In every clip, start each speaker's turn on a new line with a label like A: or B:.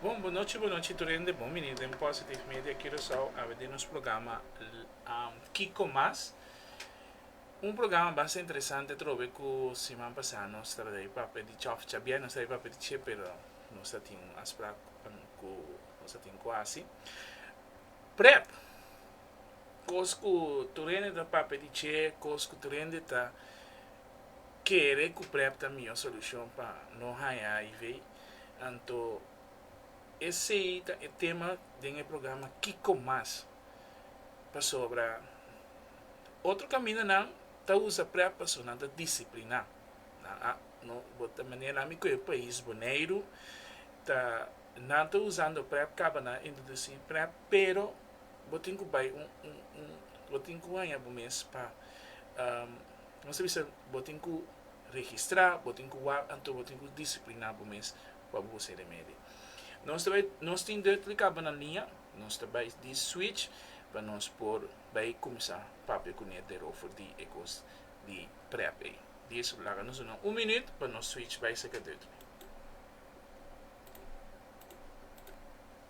A: Bon bonochi bonochi tur hende bon bini den Positive Media Curacao awe den nos programa Kiko Mas un programa basta interesante trobe ku siman pasá nos tabata di papia di chòf chabia nos tabata di papia di che pero nos ta tin un asprak ku nos ta tin ku hasi prèp kos ku tur hende ta papia di che kos ku tur hende ta kere ku prèp ta mihó solushon pa no haña HIV. Anto esey ta e tema den e programa Kiko Mas? Pasobra otro caminanan ta usa prep paso nan ta disciplina. Nan a no bo ta manera ami cu e pais Boneiru ta nan ta usando prep caba nan introduci prep pero bo tin cu bay un un un bo tin cu haya bo mes pa um bo tin cu registrá, bo tin ku wak anto bo tin ku disipliná bo mes pa bo hosé remedi. Nos ta bai, nos tin deur ta lika banan liña, nos ta bai di switch pa nos por bai kuminsá papia kuné deur ofor di e kos di prèp ei. Di eso laga nos duna un minüt pa nos switch bai serka deur.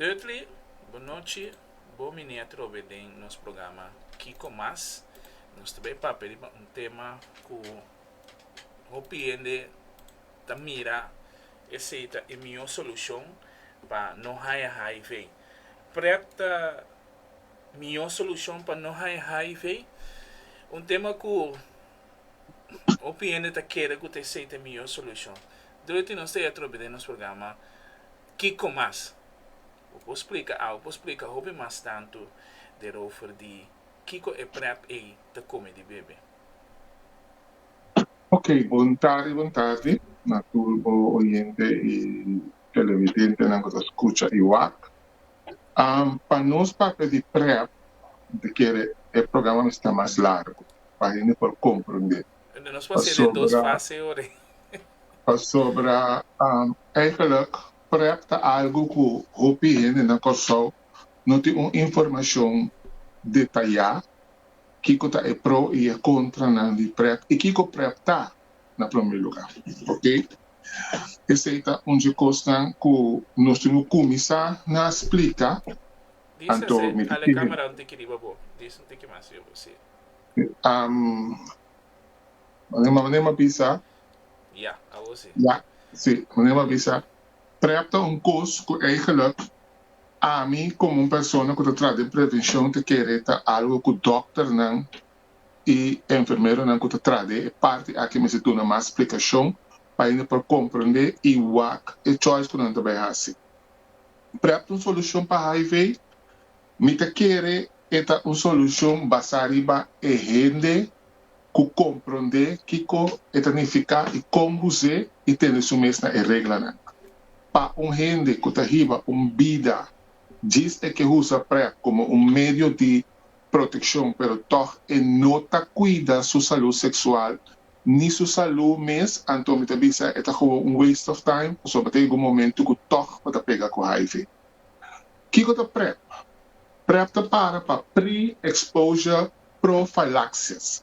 A: Dudley, Bo nochi, bo minia trobe den nos programa Kiko Mas. Nos ta bay papia riba un tema cu hopi hende ta mira esey ta e mihor solucion pa no haya HIV. Prèp ta. Mihó solushon pa no haña HIV? Un tema ku hopi hende ta kere ku ta esei ta e mihó solushon. Dorothy nos ta e atrobe den nos programa Kiko Mas. Bo por splika au por splika hopi mas tantu derover di kiko e prep ei ta kome di bebe? Ok, bon tardi, bon tardi na tur bo oyente i televidentenan ku ta skucha i wak. Pa nos papia di prep ta kere e programa mester mas largu pa hende por komprendé pasobra pasobra eigelik prep ta algu ku hopi hende na Kòrsou no tin un informashon detayá kiko ta e pro i e kontranan di prep i kiko prep ta na promé lugá. Oke, esei ta un dje kosnan ku nos tin ku kuminsá na splika, anto mi ta tigi. Am, manera manera m'a bisa, ya, si, manera m'a bisa, prèp ta un kos ku eigenluk ami komo un persona ku ta traha den prevenshon ta kere ta algu ku dòkternan. i e enfermeronan ku ta traha den e parti aki mester duna mas splikashon pa hende por komprondé i wak e choice ku nan ta bai hasi. Prep ta un solushon pa hiv? Mi ta kere e ta un solushon basá riba e hende ku komprondé kiko e ta nifiká i kon bus'é i tende su mes na e reglanan. Pa un hende ku ta hiba un bida djis e ke usa prep komo un medio di. protekshon pero tòg e no ta kuida su salú seksual ni su salú mes anto mi ta bisa e ta komo un waste of time pasobra ta yega un momentu ku tòg bo ta pega ku hiv. Kiko ta prep? Prep ta para pa pre-exposure prophylaxis.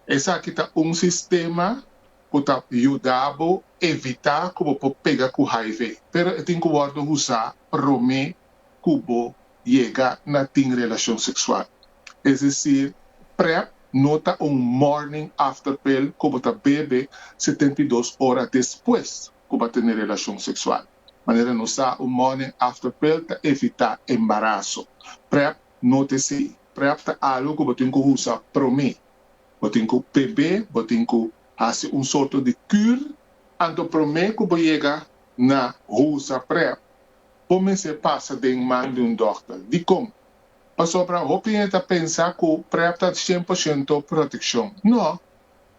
A: Esaki ta un sistema ku ta yuda bo evitá ku bo por pega ku hiv pero e tin ku wòrdu usá promé cu bo yega na tin relacion sexual. Es decir, prep no ta un morning after pill cu bo ta bebe setenta i dos ora despues cu bo a tene relacion sexual. Manera nos sa, un morning after pill ta evita embaraso. Prep no ta esey. Prep ta algo cu bo tin cu usa prome. Bo tin cu bebe, bo tin cu haci un sorto di cur anto prome cu bo yega na usa prep. bo mester pasa den man di un dòkter. Dikon? Pasobra hopi hende ta pensa ku Prep ta shen por shento protekshon. No.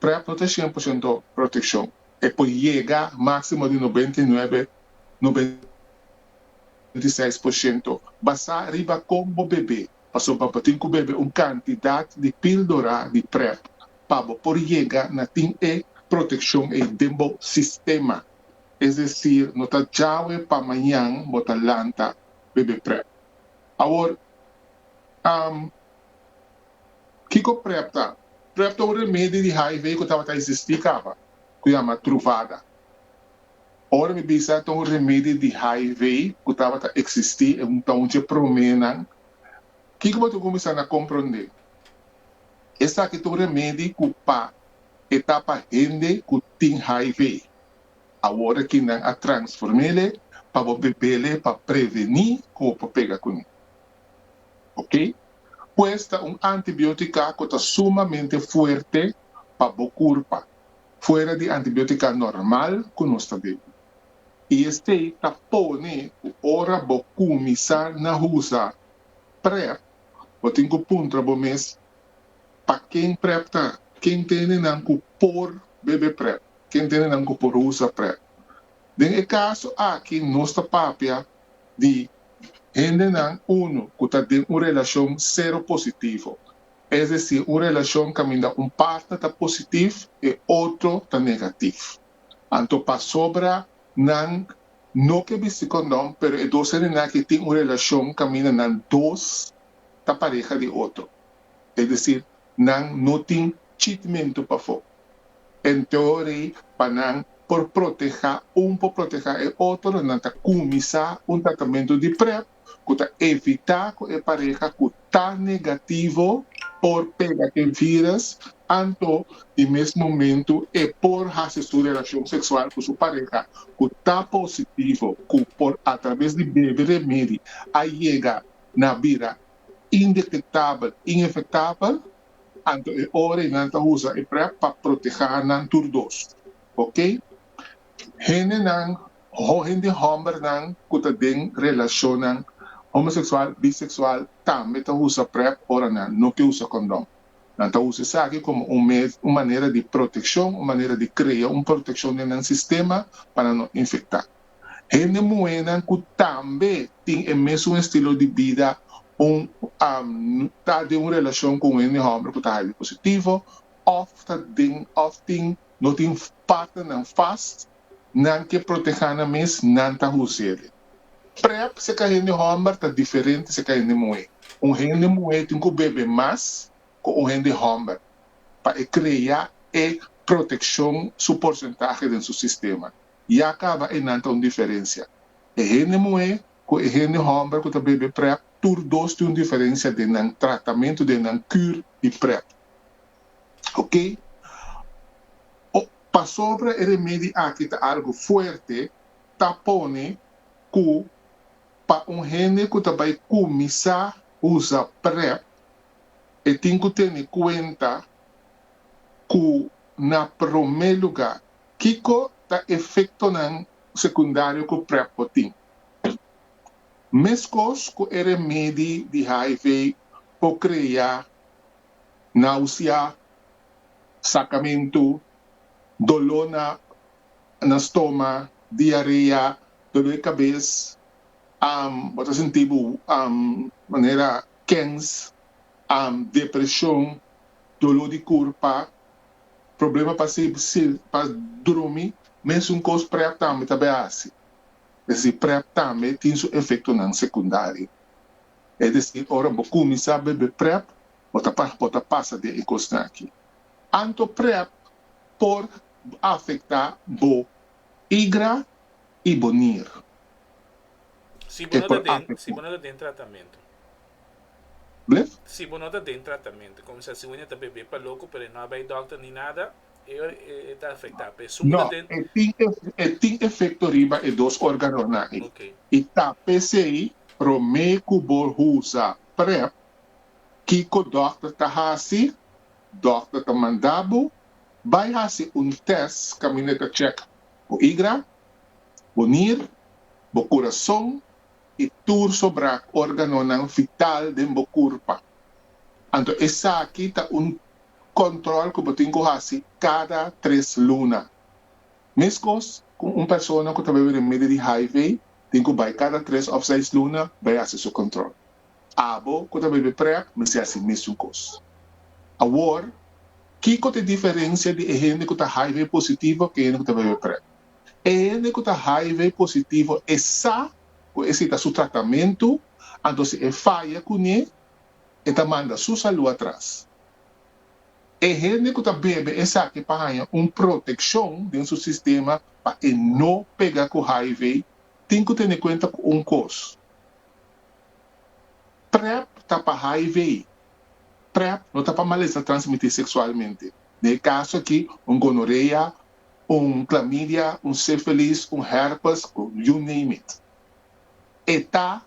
A: Prep no ta shen por shento protekshon. E por yega máksimo di nobenta i nuebe, nobenta i seis por shento, basá riba kon bo bebe. Pasobra bo tin ku bebe un kantidat di píldora di Prep pa bo por yega na tin e protekshon ei den bo sistema. es decir no ta djawe pa mañan bo ta lanta bebe prep. Awor am kiko prep ta? Prep ta un remedi di hiv ku tabata existi kaba ku yama truvada. Ora mi bisa ta un remedi di hiv ku tabata existi e ta un dje promenan kiko bo ta kuminsá na kompronde? Esaki ta un remedi ku pa e ta pa hende ku tin hiv. Awor ki nan a transformele pa bo bebele pa preveni ku bo por pega kuné. Ok. Pues ta un antibiotika ku ta sumamente fuerte pa bo kurpa, fuera di antibiotika normal ku nos ta dei. I esei ta pone ku ora bo kuminsá na usa Prep, bo tin ku puntra bo mes, Pa ken Prep ta? Ken tene nan ku por bebe Prep? ken tene nan ku por usa prep. Den e kaso aki nos ta papia di hendenan unu ku ta den un relashon seropositivo, es desir un relashon kaminda un partner ta positif e otro ta negatif. Anto pasobra nan no ke bisti kondon pero e dos hendenan aki tin un relashon kaminda nan dos ta pareha di otro, es desir nan no tin chitmento pafó. En teorí pa nan por protehá un por protehá e otro nan ta kuminsá un tratamento di prep ku ta evitá ku e pareha ku ta negativo por pega den virus anto di mes momento e por hasi su relashon seksual ku su pareha ku ta positivo ku por atrabes di bebe remedi a yega na bira indetectabel, inefectabel, anto e ora y nan ta usa e prep pa proteha nan tur dos. Ok. Hendenan, hende hombernan cu ta den relacionnan homosexual, bisexual, tambe ta usa prep ora nan no ke usa condon. Nan ta usa esaki como un mes, un manera di proteccion, un manera di crea un proteccion den nan sistema pa nan no infecta. Hende muhénan ku tambe tin e mesun estilo di bida un ta den un relashon ku un hende hòmber ku ta highly positivo òf ta den òf tin no tin partnernan fas, nan ke protehá nan mes, nan ta husele. Prèp seka hende hòmber ta diferente seka hende muhé. Un hende muhé tin ku bebe mas ku un hende hòmber pa e krea e protekshon su porsentahe den su sistema. y a caba enan ta un diferencia. E hende muhe cu e hende homber cu ta bebe prep tur dos tin un diferencia den nan tratamento, den nan cur di prep. Ok. O pasobra e remedi aki ta algo fuerte ta pone cu pa un hende cu ta bay cuminsa usa prep e tin cu tene cuenta cu na prome lugar Kiko ta efektonan sekundario ku prep por tin? Meskos ku e remedi di hiv por krea náusea, sakamentu, doló na na stoma, diarea, doló di kabes, bo ta sinti bo manera kens, depreshon, doló di kurpa. Problema pa si si pa drumi mes un kos prèp tambe ta be hasi. Es i prèp tambe tin su efektonan sekundario. Es desi ora bo kuminsá bebe prèp bo ta pa bo ta pasa den e kosnan aki. Anto prèp por afektá bo igra i bo nier. Si bo no ta den si bo no ta den tratamentu. Blef? Si bo no ta den tratamentu, comensá si Winia ta bebé pa loco pero e no a bai dòkter ni nada, e ora e ta afectá. Pe su bo ta den. No, e tin e tin efecto riba e dos organonan ei. Ok. I ta pesey promé cu bo usa prep kico dòkter ta haci, dòkter ta mandá bo bai haci un test caminda e ta checa bo igra, bo nir, bo curason, i tur sobra organonan vital den bo kurpa. Anto esaki ta un kòntròl ku bo tin ku hasi kada tres luna. Meskos ku un persona ku ta bai bira medio di hiv tin ku bai kada tres òf seis luna bai hasi su kòntròl. Abo ku ta bai bira prèp mester hasi mesun kos. Awor, kiko ta e diferensia di e hende ku ta hiv positivo ku e hende ku ta bai bira prèp? E hende ku ta hiv positivo e sa ku esi ta su tratamentu, anto si e faya kuné e ta manda su salú atras. E hende ku ta bebe esaki pa haña un protekshon den su sistema pa e no pega ku hiv tin ku tene kuenta ku un kos, Prep ta pa hiv. Prep no ta pa malesta transmití seksualmente, den e kaso aki un gonorea un klamidia, un sifilis, un hèrpes, you name it. E ta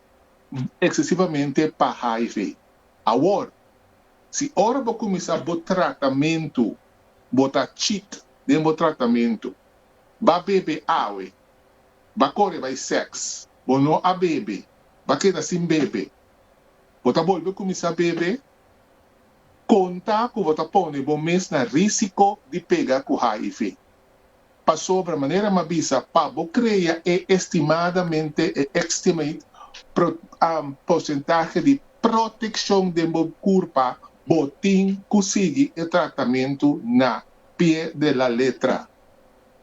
A: eksesivamente pa hiv. Awor, si ora bo kuminsá bo tratamentu bo ta chit den bo tratamentu, ba bebe awe, ba kore bai sèks, bo no a bebe, ba keda sin bebe, bo ta bolbe kuminsá bebe, Konta ku bo ta pone bo mes na risiko di pega ku hiv. Pasobra manera m'a bisa pa bo krea e estimadamente e estimate pro, am, porsentahe di protekshon den bo kurpa bo tin ku sigui e tratamentu na pie de la letra.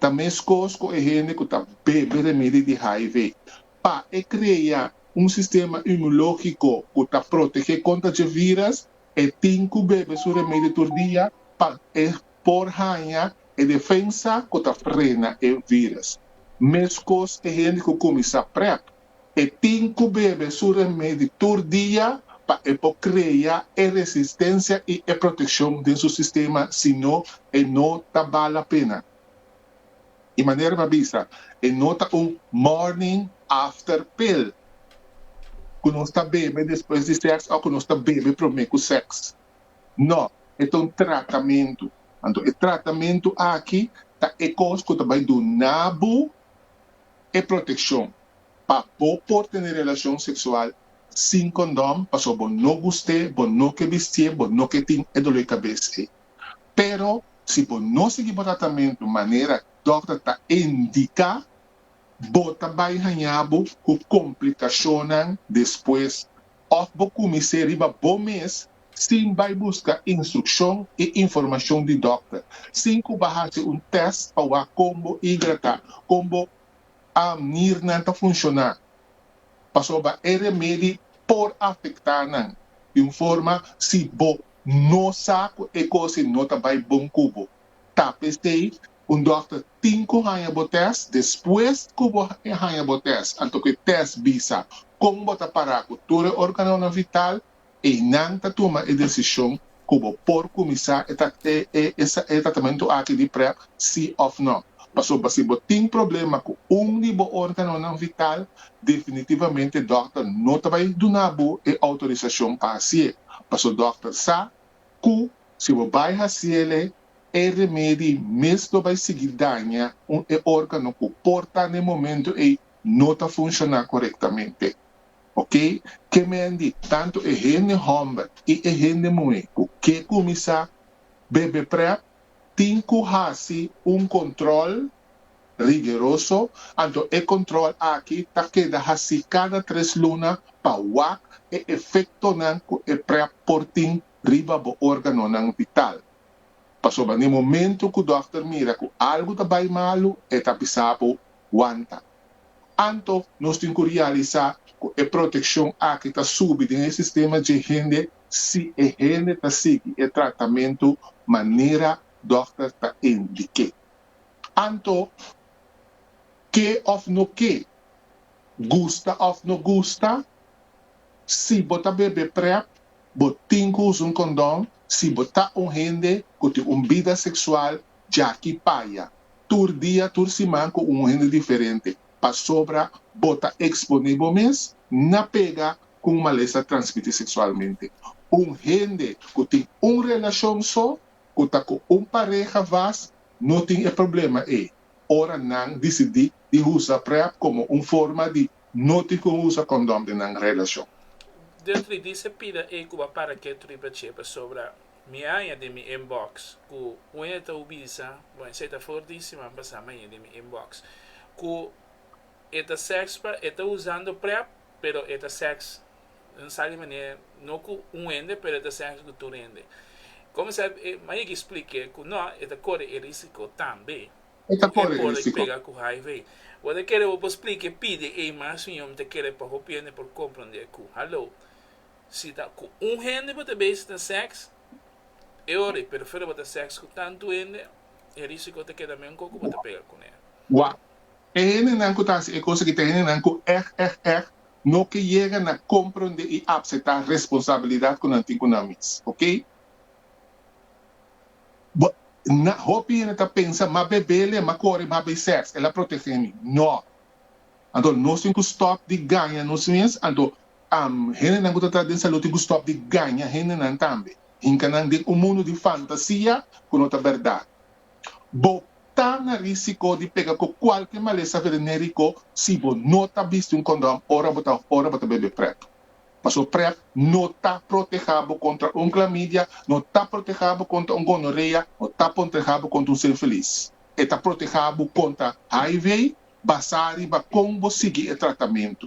A: Ta meskos ku e hende ku ta bebe remedi di hiv. pa e krea un sistema inmunológiko ku ta protegé kontra dje viras, e tin ku bebe su remedio tur dia pa e por haña e defensa ku ta frena e viras. Meskos e hende ku kuminsá prep, e tin ku bebe su remedio tur dia pa e por krea e resistensia i e protekshon den su sistema, sino e no ta bala pena. E manera mi a bisa e no ta un morning after pill ku nos ta bebe despues di sèks òf ku nos ta bebe promé ku sèks. No, e ta un tratamentu. Anto e tratamentu aki ta e kos ku ta bai duna bo e protekshon pa bo por tene relashon seksual sin kondom, pasobra bo no gust'é, bo no ke bistié, bo no ke tin e dolor di kabes ei. Pero si bo no sigui bo tratamentu manera dòkter ta indiká, bo ta bai hañá bo ku komplikashonnan despues òf bo kuminsé riba bo mes sin bai buska instrukshon i informashon di dòkter, sin ku bo a hasi un tèst pa wak kon bo igra ta, kon bo nirnan ta funshoná. Pasobra e remedi por afektá nan di un forma si bo No sa cu e cosin no ta bay bon cu bo. Ta p'esey, un dokter tin cu haya bo test, despues cu bo haya bo test, anto cu e test bisa con bo ta para cu tur e organonan vital, eynan ta tuma e decision cu bo por cuminsa e tratamento aki di prep si of no. Pasobra si bo tin problema cu un di bo organonan vital, Definitivamente dòkter no ta bai duna bo e outorisashon pa hasié, paso dòkter sa ku si bo bai hasi el'e, e remedi mes lo bai sigui daña un e órgano ku por ta n'e momentu ei no ta funshoná korektamente. Ok, ke mendi tantu e hende hòmber i e hende muhé ku ke kuminsá bebe prèp? tin cu haci un control rigeroso, anto e control aki ta keda haci cada tres luna pa wak e efectonan cu e prep por tin riba bo organonan vital. Pasobra na e momento cu dokter mira cu algu ta bay malu e ta bisa bo, Wanta. Anto nos tin cu realisa cu e proteccion aki ta subi den e sistema dje hende si e hende ta sigui e tratamentu manera dòkter ta indiké. Anto, ke òf no ke, gusta òf no gusta, si bo ta bebe Prep, bo tin ku usa un kondòn si bo ta un hende ku tin un bida seksual djaki paya, tur dia, tur siman ku un hende diferente, pasobra bo ta eksponé bo mes na pega ku un malesa transmití seksualmente. Un hende ku tin un relashon so ku ta ku un pareha vas no tin e problema ei ora nan disidí di usa prep komo un forma di no tin ku usa kondom den nan relashon. Den tris di Sepina ei ku bo a para ke tripa che pasobra mi haña den mi inbox ku un hende ta bisa bo esei ta for di si man pasa mi haña den mi inbox ku e ta sèks pa e ta usando prep pero e ta seks, N sa di manera, no ku un hende, pero e ta seks ku tur hende. Kòmensá e Mayiki splike ku nò, e ta kore e risiko tambe di ku e pode pega ku hiv. Bo ta kere bo por splike pidi ei mas? Siño, mi ta kere pa hopi hende por komprondé ku, haló, si ta ku un hende bo ta bisa ten seks, e ora ei, pero fuera bo ta seks ku tantu hende, e risiko ta keda men koko bo ta pega kuné. Wak, E hendenan ku ta hasi e kos aki ta hendenan ku èg, èg, èg no ke yega na komprondé i apsetá responsabilidat ku nan tin ku nan mes. Oké. Bo, na, hopi hende ta pensa, M'a bebé lei, m'a kore, m'a bai sèks, el a protegé mi. Nò. Anto nos tin ku stòp di gaña nos mes. Anto, am, hendenan ku ta trata den salú tin ku stòp di gaña hendenan tambe, hinka nan den un mundu di fantasia ku no ta bèrdat. Bo ta na risiko di pega ku kualke malesa veneneriko si bo no ta bisti un kondòn ora bo ta ora bo ta bebe prep. Paso prep no ta protehá bo kontra un klamidia, no ta protehá bo kontra un gonorea, no ta protehá bo kontra un sinfilis. E ta protehá bo kontra HIV basá riba kon bo sigui e tratamentu.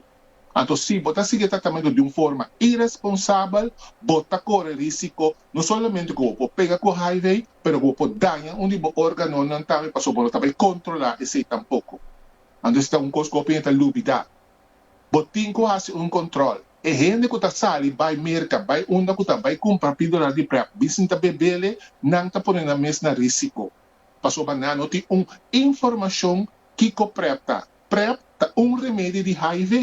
A: Anto si bo ta sigui e tratamentu di un forma iresponsabel, bo ta kore risiko no solamente ku bo por pega ku hiv, pero ku bo por daña un di bo órganonan tambe pasobra bo no ta bai kontrolá esei tampoko. Anto esei ta un kos ku hopi hende ta lubidá. Bo tin ku hasi un kòntròl. E hende ku ta sali bai merka, bai unda ku ta bai kumpra píldora di prep bisin ta bebele, nan ta pone nan mes na risiko pasobra nan no tin un informashon kiko prep ta. Prep ta un remedi di hiv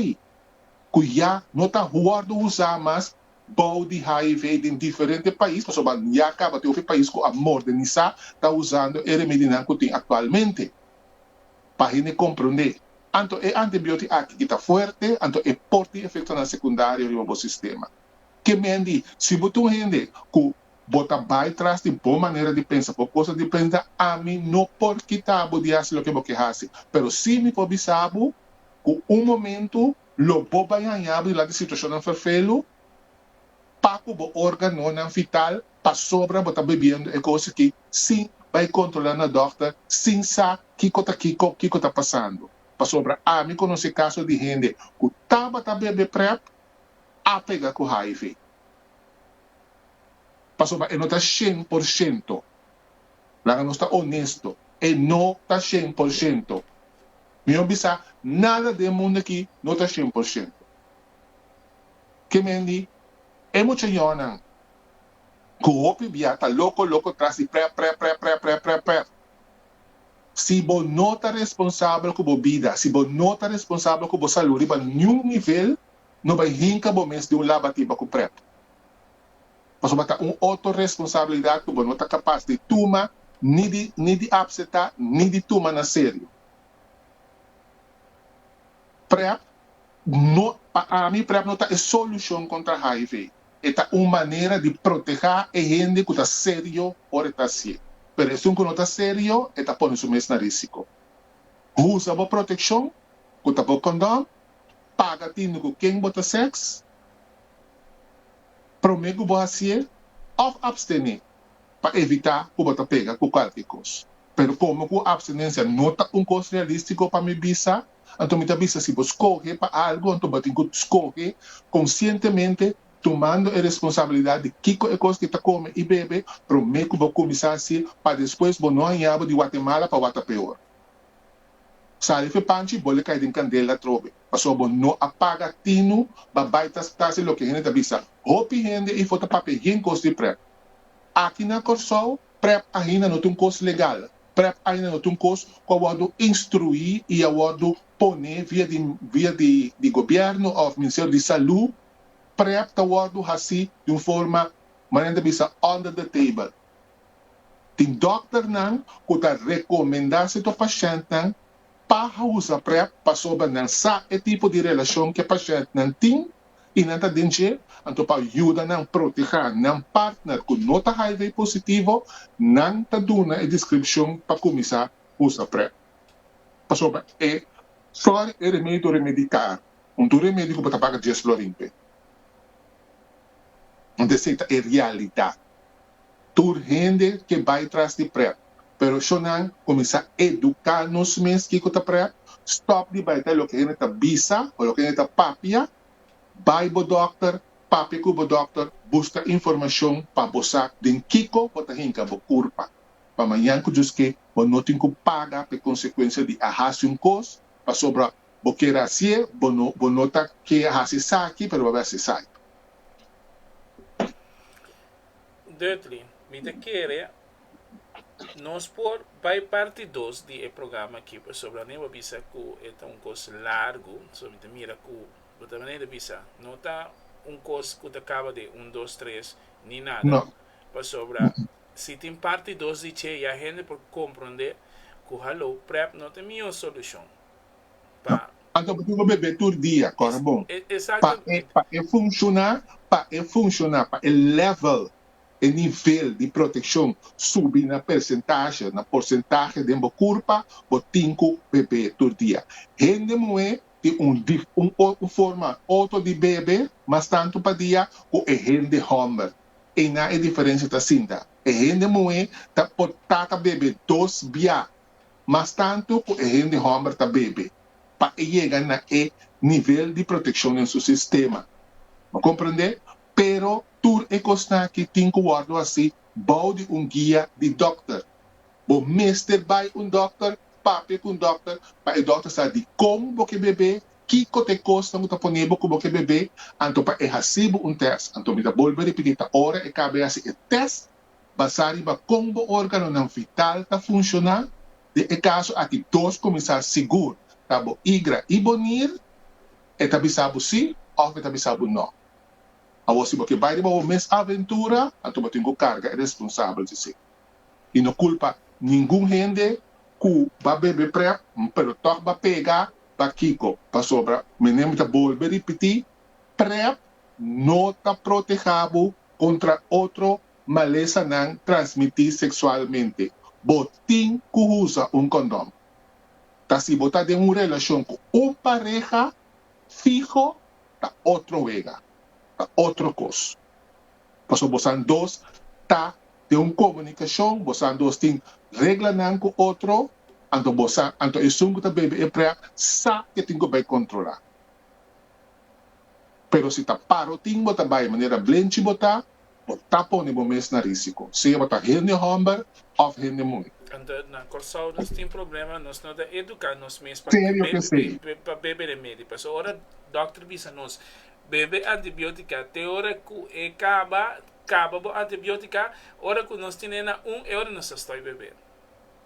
A: ku ya no ta wòrdu usá mas bou di hiv den diferente pais pasobra ya kaba tin hopi pais ku a mordenisá ta usando e remedinan ku tin aktualmente. Pa hende komprondé, anto e antibiótik aki i ta fuerte anto e por tin efektonan sekundario riba bo sistema. Ke men di si bo ta un hende ku Bo ta bai tras di bo manera di pensa, bo cosa di prenta, ami no por kita bo di hasi loke bo ke hasi. Pero si mi por bisa bo cu un momento lo bo bai haña bo di ladi situacionnan ferfelu, pa cu bo organonan vital pasobra bo ta bibiendo e cosa aki sin bai controla na dokter, sin sa kico ta kico, kico ta pasando. Pasobra ami conoce caso di hende cu tabata bebe Prep a pega cu hiv. Pasobra e no ta shen por shento. Laga nos ta onesto, e no ta shen por shento. Mi a bisa, nada den e mundo aki no ta shen por shento. Ke men di, E mucha yonan ku hopi bia ta loko loko tras di prèp, prèp, prèp, prèp, prèp, prèp, prèp. Si bo no ta responsabel ku bo bida, si bo no ta responsabel ku bo salú riba niun nivel, No bai hinka bo mes di un laba timba ku prep, pasobra ta un otro responsabilidat ku bo no ta kapas di tuma ni di ni di apsetá ni di tuma na serio. Prep no pa ami prep no ta e solushon kontra hiv, e ta un manera di protehá e hende ku ta serio ora e ta hasié, pero esun ku no ta serio e ta pone su mes na risiko. Usa bo protekshon, ku ta bo kondòn, paga tende ku ken bo ta sèks promé ku bo hasié òf apstené pa evitá ku bo ta pega ku kualke kos. Pero komo ku apstenensia no ta un kos realístiko pa mi bisa, anto mi ta bisa si bo skohe pa algu anto bo tin ku skohe konsientemente tumando e responsabilidat di kiko e kos ke ta kome i bebe promé ku bo kuminsá hasié pa despues bo no hañabo di Watemala pa wak ta peor. Sali fe Panchi bo le kai den kandel atrobe paso bo no a paga tinu ba bai ta stasi loke hende ta bisa hopi hende ifo ta papia yen kos di prep aki na Kòrsou prep ainda no ta un kos legal prep ainda no ta un kos ku a wòrdu instruí i a wòrdu pone via di via di di gobièrnu òf Ministerio di Salú prep ta wòrdu hasi di un forma manera nan ta bisa under the table Tin dòkternan ku ta rekomendá setor pashèntnan pa usa prep pasobra nan sa e tipo di relashon ku e pashèntnan tin i nan ta den dje, anto pa yuda nan protehá nan partner ku no ta hiv positivo nan ta duna e deskripshon pa kuminsá usa prep. Pasobra e flòr e remedio remedi karu, un tur remedio ku bo ta paga dies flòrin p'e. Mente esei ta e realidat. Tur hende ke bai tras di prèp. Pero shonnan, kuminsá eduká nos mes kiko ta prèp, stòp di bai ta loke hende ta bisa o loke hende ta papia, bai bo dòkter, papia ku bo dòkter, buska informashon pa bo sa den kiko bo ta hinka bo kurpa. Pa mañan ku djus ke bo no tin ku paga pa e konsekuensia di a hasi un kos pasobra bo kier hasié, bo no bo no ta ke hasi esaki pero bo a hasi esaki. Dutli, mi ta kere nos por bai parti dos di e programa aki pasobra Rene bo bisa ku e ta un kos largu, so mi ta mira ku bo ta manera di bisa no ta un kos ku ta kaba den un dos tres ni nada, No. pasobra si tin parti dos di dje ya hende por komprondé ku halou prèp no ta mihó solushon. pa. Anto bo tin ku bebé tur dia, kòrè bon. Pa e pa e funshoná, pa e funshoná, pa e lèvel, e nivel di protekshon subi na persentashe, na porsentahe den bo kurpa, bo tin ku bebé tur dia. Hende muhé tin un di un un forma otro di bebe mas tantu pa dia ku e hende hòmber. Einan e diferensha ta asinta. E hende muhé ta por tata bebé dos biaha mas tantu ku e hende hòmber ta bebe pa e yega na e nivel di protekshon den su sistema. Bo komprendé? Pero tur e kosnan akí tin ku wòrdu hasí bou di un guia di dòkter. Bo mester bai un dòkter, papia ku un dòkter pa e dòkter sa dikon bo ke bebe, kiko ta e kosnan ku ta pone bo ku bo ke bebe, anto pa e hasi bo un tèst. Anto mi ta bolbe a ripití, ta ora e KB hasi e tèst basá riba kon bo órganonan vital ta funshoná, den e kaso aki dos kuminsá sigur ta bo igra i bo nir, e ta bisa bo sí òf e ta bisa bo nò. Awor si bo ke bai riba bo mes aventura, anto bo tin ku karga e responsabel di esei. I no kulpa ningun hende ku ba bebe prèp, pero tòg ba pega, bakiko? Pasobra menembe ta bolbe ripití, Prep no ta protehá bo kontra otro malesanan transmití seksualmente. Bo tin ku usa un kondòn. Ta si bo ta den un relashon ku un pareha fiho ta otro wega, ta otro kos. Pasobra bosan dos ta den un komunikashon, bosan dos tin reglanan ku otro, anto bosan anto esun ku ta bebe e prep sa ke tin ku bai kontrolá. Pero si ta parotin bo ta bai manera blenchi bo ta, bo ta pone bo mes na risiko, sea bo ta hende hòmber òf hende muhe. Ando na Kòrsou nos tin problema, nos no ta eduká nos mes pa Serio ke sí. pa bebe remedi. Pasobra ora dòkter bisa nos bebe antibiótika te ora ku e kaba, kaba bo antibiótika, ora ku nos tine na un e ora nos ta stòi bebe.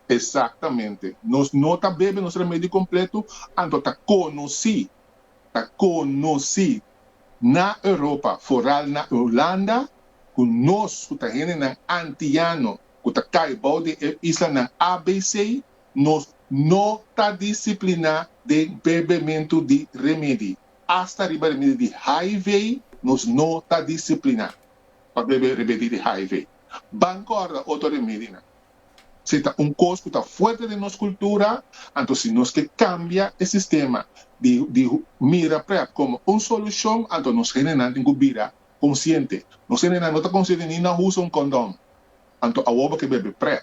A: Exactamente. Nos no ta bebe nos remedi completo, anto ta conoci, ta conoci na Europa, foral na Hulanda, cu nos cu ta hendenan antiano cu ta cay bao di e islanan abc, nos no ta disciplina den bebementu di remedi. Hasta riba remedi di hiv nos no ta disciplina pa bebe remedi di hiv. Ban corda otro remedinan. Si ta un kos ku ta fuerte den nos kultura, anto si nos ke kambia e sistema di di mira prèp komo un solushon, anto nos hendenan tin ku bira konsiente. Nos hendenan no ta konsiente ni na usa un kondon, anto awor bo ke bebe prèp.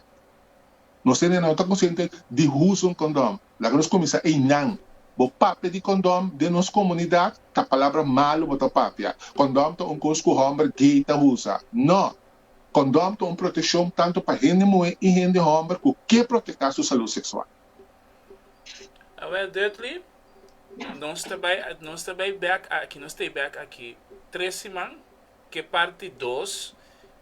A: Nos hendenan no ta konsiente di usa un kondon. Laga nos kuminsá ei nan. Bo papia di kondon den nos komunidat, ta palabra malu bo ta papia. Kondon ta un kos ku hòmber gay ta usa. No! Kondom ta un proteshon tantu pa hende muhé i hende hòmber ku ke proteká su salú seksual. Awèl Dudley, Nos ta bai nos ta bai bèk aki, nos ta e bèk aki tres siman, ke parti dos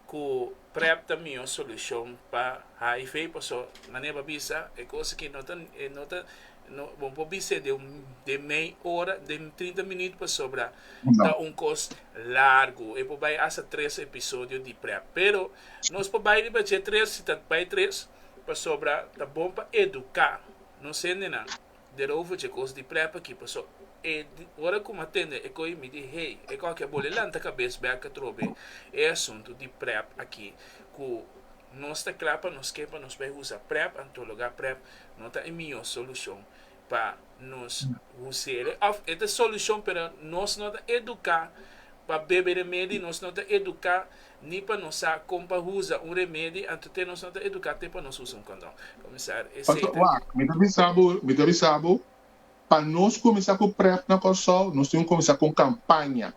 A: ku Prep ta mihó solushon pa HIV, paso manera bo a bisa e kos aki no ta no ta No, bo por bis'é den un, den mei ora, den trinta minüt pasobra ta un kos largu. E por bai hasta tres episodio di prep. Pero nos por bai riba dje tres, si ta bai tres, pasobra ta bon pa eduká nos hendenan derover dje kos di prep aki. Paso e, ora ku mi a tende e ko'i mi di, Hei, e kòke a bole lanta kabes bèk atrobe e asuntu di prep aki ku. Nos ta kla pa nos ke pa nos bai usa prep anto loga prep no ta e mihó solushon pa nos huseria òf e ta solushon pero nos no ta eduká pa bebe remedi nos no ta eduká ni pa nos sa kon pa usa un remedi anto te nos no ta eduká te pa nos usa un kondon komisar esei ta Wak mi ta bisa bo mi ta bisa bo pa nos kuminsá ku prep na Kòrsou nos tin ku kuminsá ku un kampaña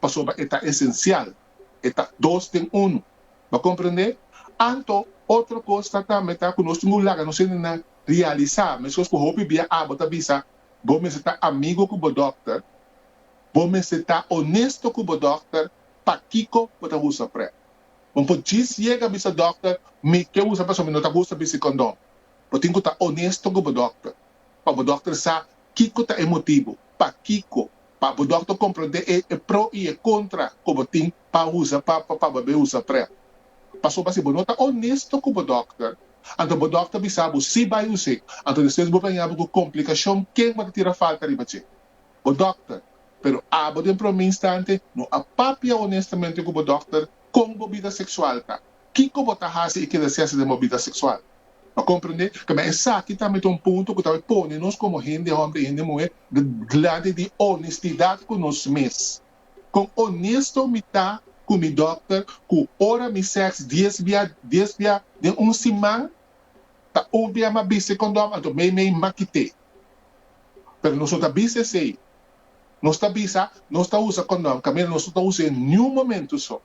A: pasobra e ta esencial, e ta dos den unu. Bo a comprende? Anto, otro cos ta tambe ta cu nos tin cu laga nos hendenan realisa, mescos cu hopi bia abo ta bisa, bo mester ta amigo cu bo dokter, bo mester ta honesto cu bo dokter, pakico bo ta usa prep? Bo por djis yega bisa dokter, mi ke usa pasobra mi no ta gusta bisti condon. Bo tin cu ta honesto cu bo dokter, pa bo dokter sa kico ta e motibo, pakico pa bo dokter komprendé e e pro i e kontra ku bo tin pa usa pa pa bo be usa prèp. Pasobra si bo no ta onesto ku bo dokter, anto bo dokter bisa bo si bai us'é, anto despues bo gaña bo ku komplikashon ken bo ta tira falta riba dje? Bo dokter. Pero abo den promé instante no a papia onestamente ku bo dokter kon bo bida seksual ta. Kiko bo ta hasi e keda sesa den bo bida seksual? Pa komprendé kamen esaki tambe ta un punto ku ta por pone nos komo hende hòmber i hende muhé gladi di onestidat ku nos mes. Kon onesto mi ta ku mi dòkter ku ora mi sèks dies bia dies bia den un siman? Ta un bia m'a bisi kondòm anto meimei m'a kit'é. Pero nos no ta bisa esei. Nos ta bisa nos ta usa kondòm kaminda nos no ta us'é niun momentu so.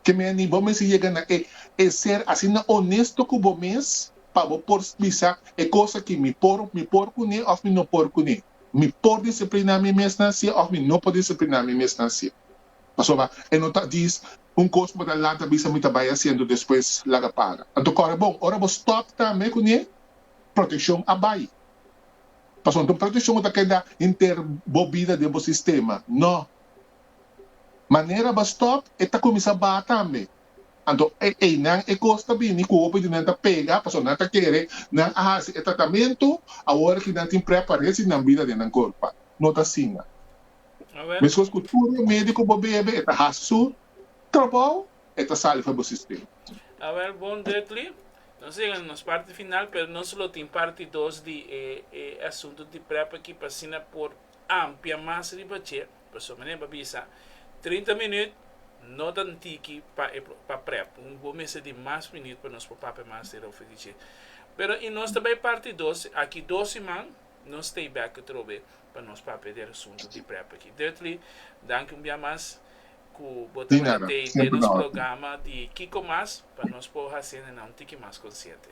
A: Te meni bo mester yega na e e ser asina onesto ku bo mes pa bo por bisa, E kos aki mi por mi por kuné òf mi no por kuné. Mi por disipliná mi mes na hasié òf mi no por disipliná mi mes na hasié. Pasobra e no ta djis un kos bo ta lanta bisa mi ta bai hasiendo despues laga para. Anto kòrda bon, ora bo stòp tambe kuné, protekshon a bai. Pasobra anto protekshon no ta keda henter bo bida den bo sistema, nò. Manera ba stop e ta kuminsá ba tambe. Anto e einan e kos ta bini ku hopi di nan ta pega pasobra nan ta kere nan a hasi e tratamentu awor ki nan tin prèp pa resi nan bida den nan korpa. No ta asina. Meskos ku tur remedi ku bo bebe e ta hasi su trabou, e ta sali for bo sistema. Awèl bon Dukli, nos yega na nos parti final pero nos lo tin parti dos di e asuntu di prèp aki pa asina por ampia mas riba dje, pasobra mi neba bisa trinta minüt no ta tiki pa e pa prep, bo mester di mas minüt pa nos por papia mas di Rofe di dje. Pero i nos ta bai parti dos, aki dos siman nos stay back atrobe pa nos papia di e asuntu di prep aki. Duttley, danki un bia mas ku bo ta bai tei den nos programa di Kiko Mas pa nos por hasiendanan un tiki mas konsiente.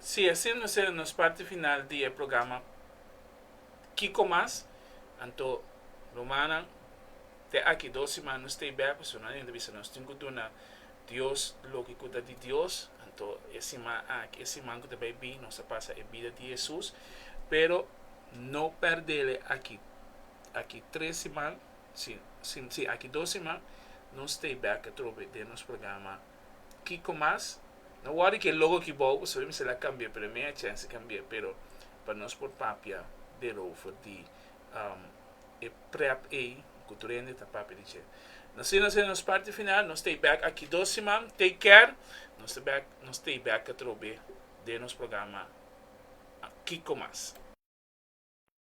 A: Si asin nos e nos parti final di e programa Kiko Mas? Anto rumannan te aki dos siman nos stay back pasobra nan anto a bisa nos tin ku duna Dios loke ku ta di Dios anto e siman aki e siman ku ta bai bin nos a pasa e bida di Hesus pero no perdele aki aki tres siman Sin si aki dos siman no stay back atrobe den nos programa Kiko Mas. No wòrri ki e logo ki bou bo sabi mester a kambia pero e mea chèns di kambia pero pa nos por papia derover di e prèp ei ku tur hende ta papia di dje. Na asina nos yega nos parti final no stay back aki dos siman take care no stay back no stay back atrobe den nos programa Kiko Mas.